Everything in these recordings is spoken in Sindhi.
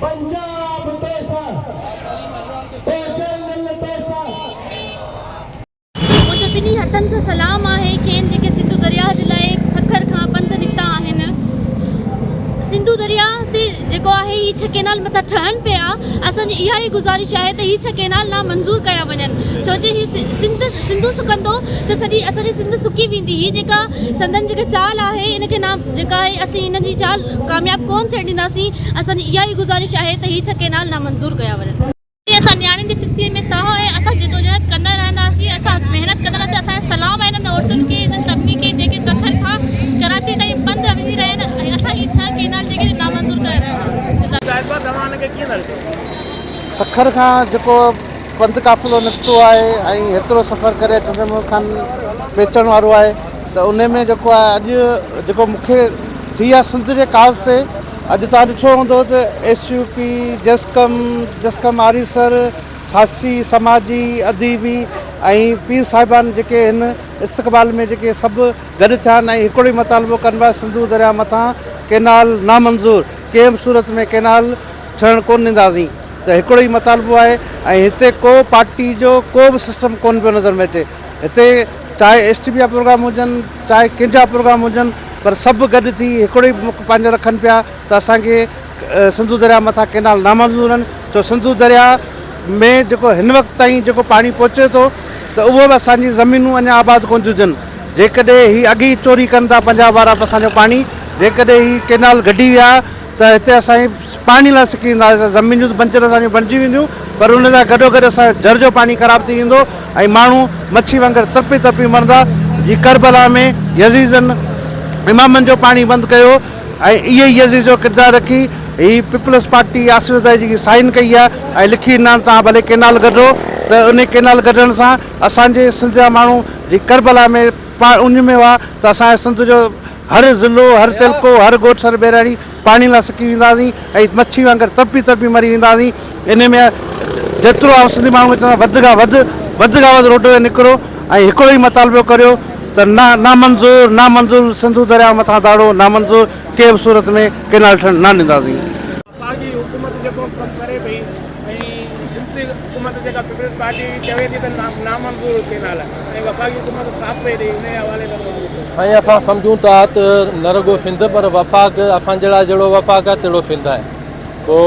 پنجاب توسان او جرنل توسان. منهنجو ٻنهي هٿن سان سلام آهي کين جيڪي سنڌو درياهه جي لاء سکر کان پنڌ نڪتا آهن. سنڌو درياهه تي جيڪو آهي هي ڇهه ڪينال مٿان ٺهن پيا اسان جي اها ئي گذارش آهي ته هي ڇهه ڪينال نا منظور ڪيا وڃن ڇو جي هي سنڌ سنڌو سڪندو ته سڄي اسان جي سنڌ سڪي ويندي هي جيڪا سندن جيڪا چال آهي ان کي نا جيڪا آهي اسين ان جي چال ڪامياب ڪون ٿيڻ ڏينداسين اسان جي اها ئي گذارش آهي ته هي ڇهه ڪئنال نامنظور ڪيا وڃن. جي اسان نياڻين جي سسئي ۾ ساهه آهي اسان جدوجهد ڪندا رهنداسين اسان محنت ڪندا رهنداسين اسان جو سلام آهي انهن عورتن کي انهن سڀني کي جيڪي سکر کان ڪراچي تائين پنڌ وڃي رهيا آهن ۽ اسان هي ڇهه ڪئنال جيڪي آهن نامنظور ڪرائي رهيا آهيون. صاحبه توهان ان کي ڪيئن ٿا ڏسو؟ سکر کان جيڪو پنڌ قافلو نڪتو آهي ۽ هيترو سفر ڪري ٺٽي ملڪ کان پهچڻ وارو آهي. ته انهي ۾ جيڪو آهي اڄ جيڪو مون کي ٿي آهي سنڌ جي ڪاز تي اڄ توهان ڏٺو هوندو ته ايس يو پي جسقم جسقم آريسر ساسي سماجي اديبي ۽ پير صاحبان جيڪي هن استقبال ۾ جيڪي سڀ گڏ ٿيا آهن ۽ هڪڙو ئي مطالبو ڪن پيا سنڌو درياء مٿان ڪينال نامنظور ڪنهن به صورت ۾ ڪينال ٺهڻ ڪونه ڏينداسين ته هڪڙو ئي مطالبو آهي ۽ هتي ڪو پارٽي جو ڪو به سسٽم ڪونه پيو نظر ۾ اچي هتي چاهي ايس ٽي پي جا پروگرام هجن چاهي ڪنهن جا پروگرام هجن پر سڀ گڏ ٿي هڪڙو ئي مک پنهنجو رکن پيا ته اسان کي سنڌو درياء مٿان ڪينال نامنظور آهن ڇو سنڌو درياء ۾ جيڪو هن وقت تائين جيڪو پاڻي پهچي ٿو ته اهو به اسان جي زمينون اڃا آباد ڪون ٿيون ٿين جيڪڏهن هي اڳ ئي چوري ڪن ٿا پنجاب وارا اسان جو پاڻي جيڪڏهن هي ڪينال گڊي ويا ته هتي اسان جي پاڻي لاء سڪي ويندا هئاسين زمينون ته بنجر اسان جون بڻجي وينديون پر ان سان گڏو گڏ اسان جو جر جو پاڻي خراب ٿي ويندو ۽ ماڻهو مڇي وانگر ترپي ترپي مرندا جي ڪربلا ۾ يزيدن امامن جو پاڻي بند ڪيو ۽ اهي ئي يزيد جو ڪردار رکي هي پيپلز پارٽي آصف زرداري جيڪي سائين ڪئي آهي ۽ لکي ڏنا آهن توهان ڀلي ڪينال گڍو ته انهي ڪينال گڍڻ سان اسان جي سنڌ جا ماڻهو جي ڪربلا ۾ ان ۾ هئا ته اسان جي سنڌ جو هر ضلعو، هر تعلقو، هر ڳوٺ سر ٻهراڙي پاڻي لاء سڪي ويندا هئاسين ۽ مڇي وانگر تڙپي تڙپي مري ويندا هئاسين. انهيء ۾ جيترو آئون سنڌي ماڻهن کي چوندا وڌ کان وڌ وڌ کان وڌ روڊن تي نڪرو ۽ هڪڙو ئي مطالبو ڪريو ته نا نامنظور نامنظور سنڌو درياء مٿان داڙو نامنظور ڪنهن به صورت ۾ ڪئنال ٺهڻ نه ڏينداسين. ساڳي حڪومت جيڪو ڪم ڪري پئي ۽ جنسي حڪومت جيڪا پيپلز پارٽي چوي ٿي ته نامنظور هو ڪينال ۽ وفاقي حڪومت ساٿ پئي ڏئي انهي حوالي سان توهان جو چوڻ. سائين اسان سمجهون ٿا ته نه رڳو سنڌ پر وفاق اسان جهڙا جهڙو وفاق آهي تهڙو سنڌ آهي پو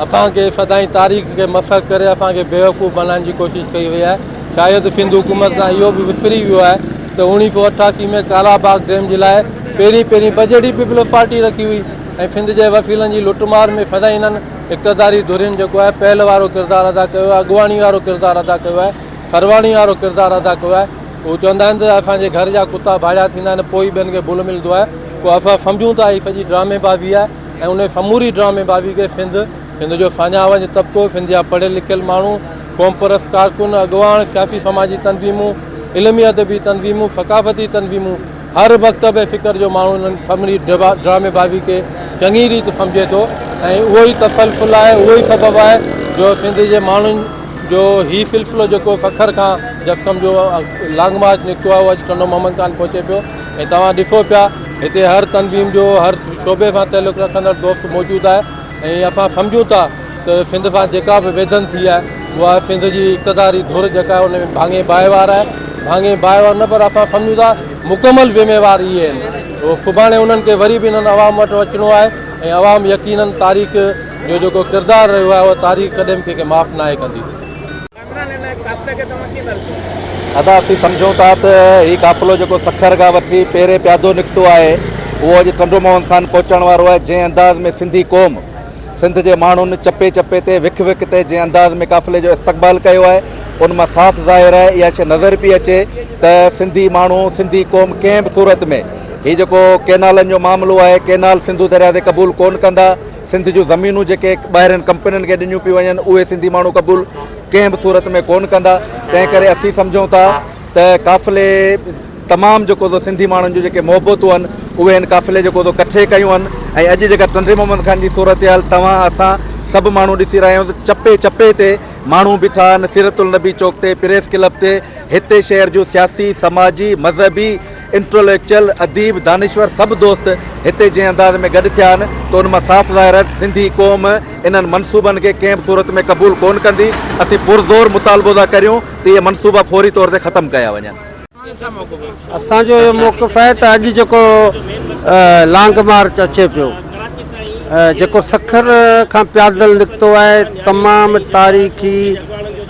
اسان کي سدائين تاريخ کي مسخ ڪري اسان کي بيوقوف بنائڻ جي ڪوشش ڪئي وئي آهي شايد سنڌ حڪومت کان اهو به وسري ويو آهي ته اوڻيهه سو اٺاسي ۾ ڪالا باغ ڊيم جي لاء پهرين پهرين بجيٽ ئي پيپلز پارٽي رکي هئي ۽ سنڌ جي وسيلن جي لٽ مار ۾ فدائينن اقتداري ڌرين جيڪو آهي پهل وارو ڪردار ادا ڪيو آهي اڳواڻي وارو ڪردار ادا ڪيو آهي سرواڻي وارو ڪردار ادا ڪيو آهي هو چوندا آهن ته اسان جي گهر جا ڪتا ڀاڙيا ٿيندا آهن پوئي ٻين کي بل ملندو آهي پوء اسان سمجهون ته هي سڄي ڊرامي بازي آهي ۽ انهي سموري ڊرامي بازي کي سنڌ سنڌ جو ساڃاهه وڃ طبقو سنڌ جا پڙهيل لکيل ماڻهو قومپرست ڪارڪن اڳواڻ سياسي سماجي تنظيمون علمي ادبي تنظيمون ثقافتي تنظيمون هر مڪتبه فڪر جو ماڻهو انهن سڀني ڊراميبازي کي چڱي ريت سمجهي ٿو ۽ اهو ئي تسلسل آهي، اهو ئي سبب آهي جو سنڌ جي ماڻهن جو هي سلسلو جيڪو سکر کان جسقم جو لانگ مارچ نڪتو آهي اهو اڄ ٽنڊو محمد خان پهچي پيو ۽ توهان ڏسو پيا هتي هر تنظيم جو هر شعبي سان تعلق رکندڙ دوست موجود آهي ۽ اسان سمجهون ٿا ته سنڌ سان جيڪا به ويڌن ٿي آهي اها سنڌ جي اقتداري ڌر جيڪا آهي ان ۾ ڀاڱي باهه وار آهي ڀاڱي باهه وار نه پر اسان سمجهون ٿا مڪمل ذميوار اهي آهن سڀاڻي انهن کي وري به انهن عوام وٽ اچڻو آهي ۽ عوام يقينن تاريخ جو جيڪو ڪردار رهيو آهي اهو تاريخ ڪڏهن به ڪنهن کي معاف ناهي ڪندي ادا اسين سمجهون ٿا ته هي قافلو جيڪو سکر کان وٺي پيري پيادو نڪتو آهي اهو اڄ ٽنڊو موهن خان پهچڻ وارو آهي جنهن انداز ۾ سنڌي قوم سنڌ جي ماڻهن چپي چپي تي وک وک تي جنهن انداز ۾ قافلي جو استقبال ڪيو آهي ان مان صاف ظاهر آهي اها شيء نظر پئي اچي ته سنڌي ماڻهو سنڌي قوم ڪنهن به صورت ۾ هي جيڪو ڪينالن جو معاملو آهي ڪينال سنڌو درياء تي قبول ڪون ڪندا سنڌ جون زمينون جيڪي ٻاهرين ڪمپنين کي ڏنيون پيون وڃن اهي سنڌي ماڻهو قبول ڪنهن به صورت ۾ ڪونه ڪندا تنهن ڪري اسين سمجهون ٿا ته قافلي تمام جيڪو سو سنڌي ماڻهن جون جيڪي محبتون آهن اهي هن قافلي جيڪو سو ڪٺي ڪيون آهن ۽ اڄ جيڪا ٽنڊي محمد خان جي صورتحال توهان اسان سڀ ماڻهو ڏسي رهيا آهيون ته چپي چپي تي ماڻهو بيٺا آهن سيرت النبي چوڪ تي پريس ڪلب تي هتي شهر جون سياسي سماجي مذهبي انٽليڪچل، اديب، دانشور سڀ دوست هتي جنهن انداز ۾ گڏ ٿيا آهن ته ان مان صاف ظاهر آهي ته سنڌي قوم انهن منصوبن کي ڪنهن به صورت ۾ قبول ڪونه ڪندي. اسين پرزور مطالبو ٿا ڪريون ته اهي منصوبا فوري طور تي ختم ڪيا وڃن. اسان جو اهو موقف آهي ته اڄ جيڪو لانگ مارچ اچي پيو، جيڪو سکر کان پيادل نڪتو آهي، تمام تاريخي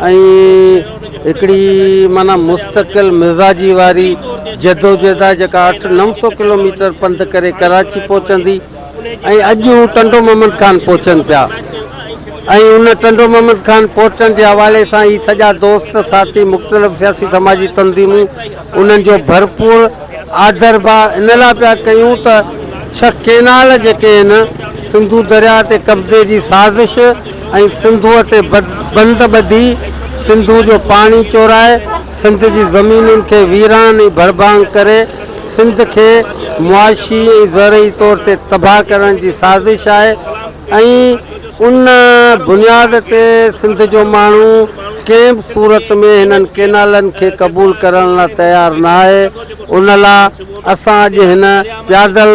۽ هڪڙي معنيٰ مستقل مزاجي واري جدوجهد آهي جيڪا اٺ نو سو ڪلوميٽر پنڌ ڪري ڪراچي پهچندي ۽ اڄ هو ٽنڊو محمد خان پهچن پيا ۽ ان ٽنڊو محمد خان پهچڻ جي حوالي سان هي سڄا دوست ساٿي مختلف سياسي سماجي تنظيمون انهن جو ڀرپور آڌر ڀاء ان لاء پيا ڪيون ته ڇهه ڪينال جيڪي آهن سنڌو درياء تي قبضي جي سازش ۽ سنڌوء تي بند ٻڌي سنڌوء جو پاڻي چورائي سنڌ جي زمينن کي ويران ۽ ڀڙڀانگ ڪري سنڌ کي معاشي ۽ زرعي طور تي تباهه ڪرڻ جي سازش آهي ۽ ان بنياد تي سنڌ جو ماڻهو ڪنهن به صورت ۾ هنن ڪينالن کي قبول ڪرڻ لا تيار نه آهي، ان لا اسان اڄ هن پيادل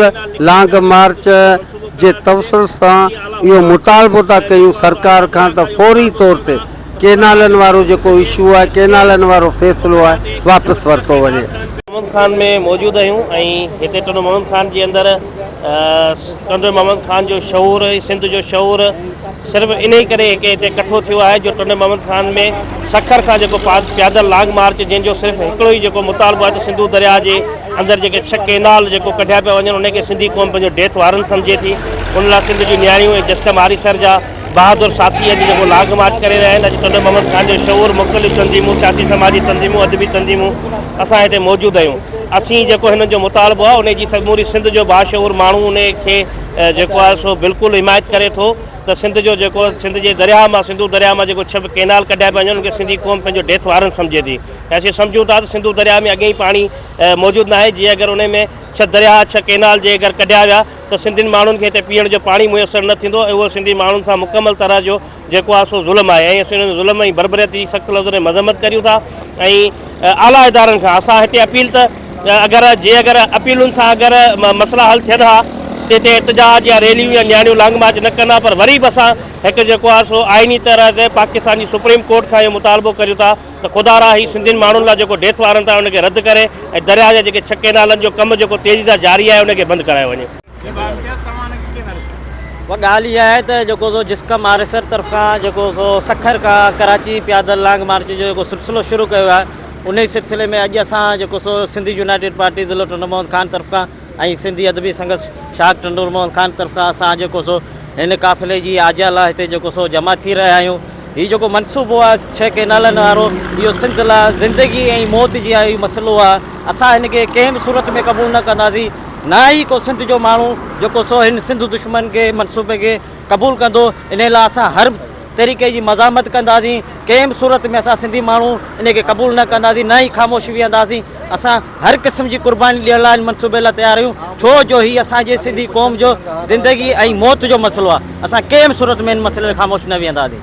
لانگ مارچ جي توسل سان اهو مطالبو ٿا ڪيون سرڪار کان ته فوري طور تي ڪينالن وارو جيڪو اشو آهي ڪينالن وارو فيصلو آهي واپس ورتو وڃي. محمد خان ۾ موجود آهيون ۽ هتي ٽنڊو محمد خان جي اندر ٽنڊو محمد خان جو شعور سنڌ جو شعور صرف انهي ڪري هڪ هتي ڪٺو ٿيو آهي جو ٽنڊو محمد خان ۾ سکر کان جيڪو پيادل لاگ مارچ جنهن جو صرف هڪڙو ئي جيڪو مطالبو آهي ته سنڌو درياء جي اندر جيڪي ڇهه ڪينال جيڪو ڪڍيا پيا وڃن انهي کي سنڌي قوم پنهنجو ڊيٿ وارن سمجهي ٿي ان لاء سنڌ جون نياڻيون ۽ جسڪم آريسر جا بهادر ساٿي اڄ جيڪو لانگ مارچ ڪري رهيا آهن، اڄ ٽنڊو محمد خان جو شعور، مختلف تنظيمون، سياسي سماجي تنظيمون، ادبي تنظيمون اسان هتي موجود آهيون. اسين جيڪو هنن جو مطالبو آهي انهي جي سموري سنڌ جو باشعور ماڻهو انهي کي جيڪو آهي سو بلڪل حمايت ڪري ٿو ته سنڌ جو جيڪو سنڌ جي درياهه مان سنڌو درياهه مان جيڪو ڇهه ڪئنال ڪڍيا پيا وڃن ان کي سنڌي قوم پنهنجو ڊيٿ وارن سمجهي ٿي ۽ اسين سمجهون ٿا ته سنڌو درياهه ۾ اڳيئي پاڻي موجود ناهي جي اگر انهي ۾ ڇهه درياهه ڇهه ڪئنال جي اگر ڪڍيا ويا ته سنڌين ماڻهن کي هتي پيئڻ جو پاڻي ميسر نه ٿيندو ۽ اهو سنڌي ماڻهن سان مڪمل طرح جو جيڪو آهي سو ظلم آهي ۽ اسين ان ظلم ۽ بربريت جي سخت لفظن ۾ مذمت ڪريون ٿا ۽ اعليٰ ادارن کان اسان هتي اپيل ته اگر جي اگر اپيلن سان اگر مسئلا حل ٿين ها ته هتي احتجاج يا ريليون يا نياڻيون لانگ مارچ نه ڪندا پر وري به اسان هڪ جيڪو آهي سو آئيني طرح تي پاڪستان جي سپريم ڪورٽ کان اهو مطالبو ڪريون ٿا ته خدا را هي سنڌين ماڻهن لا جيڪو ڊيٿ وارنٽ آهي ان کي رد ڪري ۽ درياء جا جيڪي ڇهه ڪينالن جو ڪم جيڪو تيزي سان جاري آهي ان کي بند ڪرايو وڃي. اها ڳالهه اها آهي ته جيڪو سو جسقم آريسر طرفان جيڪو سو سکر کان ڪراچي پيادل لانگ مارچ جو جيڪو سلسلو شروع ڪيو ويو آهي انهي سلسلي ۾ اڄ اسان جيڪو سو سنڌ يونائيٽيڊ پارٽي ضلعو ٽنڊو محمد خان طرف کان ۽ سنڌي ادبي سنگس شاخ ٽنڊو موهن خان طرفان اسان جيڪو سو هن قافلي جي آجيا لاء هتي جيڪو سو جمع ٿي رهيا آهيون هي جيڪو منصوبو آهي ڇهه ڪينالن وارو اهو سنڌ لاء زندگي ۽ موت جي آهي مسئلو آهي اسان هن کي ڪنهن به صورت ۾ قبول نه ڪنداسين نه ئي ڪو سنڌ جو ماڻهو جيڪو سو هن سنڌ دشمن کي منصوبي کي قبول ڪندو ان لاء اسان هر طريقي جي مزاحمت ڪنداسين ڪنهن به صورت ۾ اسان سنڌي ماڻهو ان کي قبول نه ڪنداسين نه ئي خاموش ويهنداسين اسان هر قسم جي قرباني ڏيڻ لاء هن منصوبي لاء تيار آهيون ڇو جو هي اسان جي سنڌي قوم جو زندگي ۽ موت جو مسئلو آهي اسان ڪنهن به صورت ۾ هن مسئلي تي خاموش نه ويهنداسين.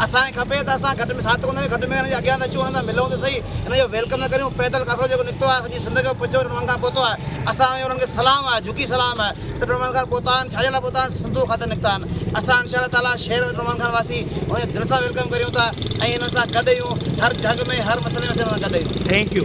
اسان کي کپي ته اسان گهٽ ۾ ساٿ ڪنداسين، گهٽ ۾ هن جي اڳيان ته اچون، هن سان ملون ته سهي، هن جو ويلڪم ته ڪريون، پيدل قافلو جيڪو نڪتو آهي، سڄي سنڌ کي پچو ٽڻ وانگان پهتو آهي، اسان جو انهن کي سلام آهي، جهڪي سلام آهي ته ٽڻ وانگان پهتا آهن، ڇا جي لاء پهتا آهن، سنڌوء خاطر نڪتا آهن، اسان ان شاء الله تعاليٰ شهر ۽ ٽڻ وانگان واسي انهن جو دل سان ويلڪم ڪريون ٿا ۽ انهن سان گڏ اهيون، هر جهڳ ۾ هر مسئلي ۾ اسين انهن سان گڏ اهيون. Thank you.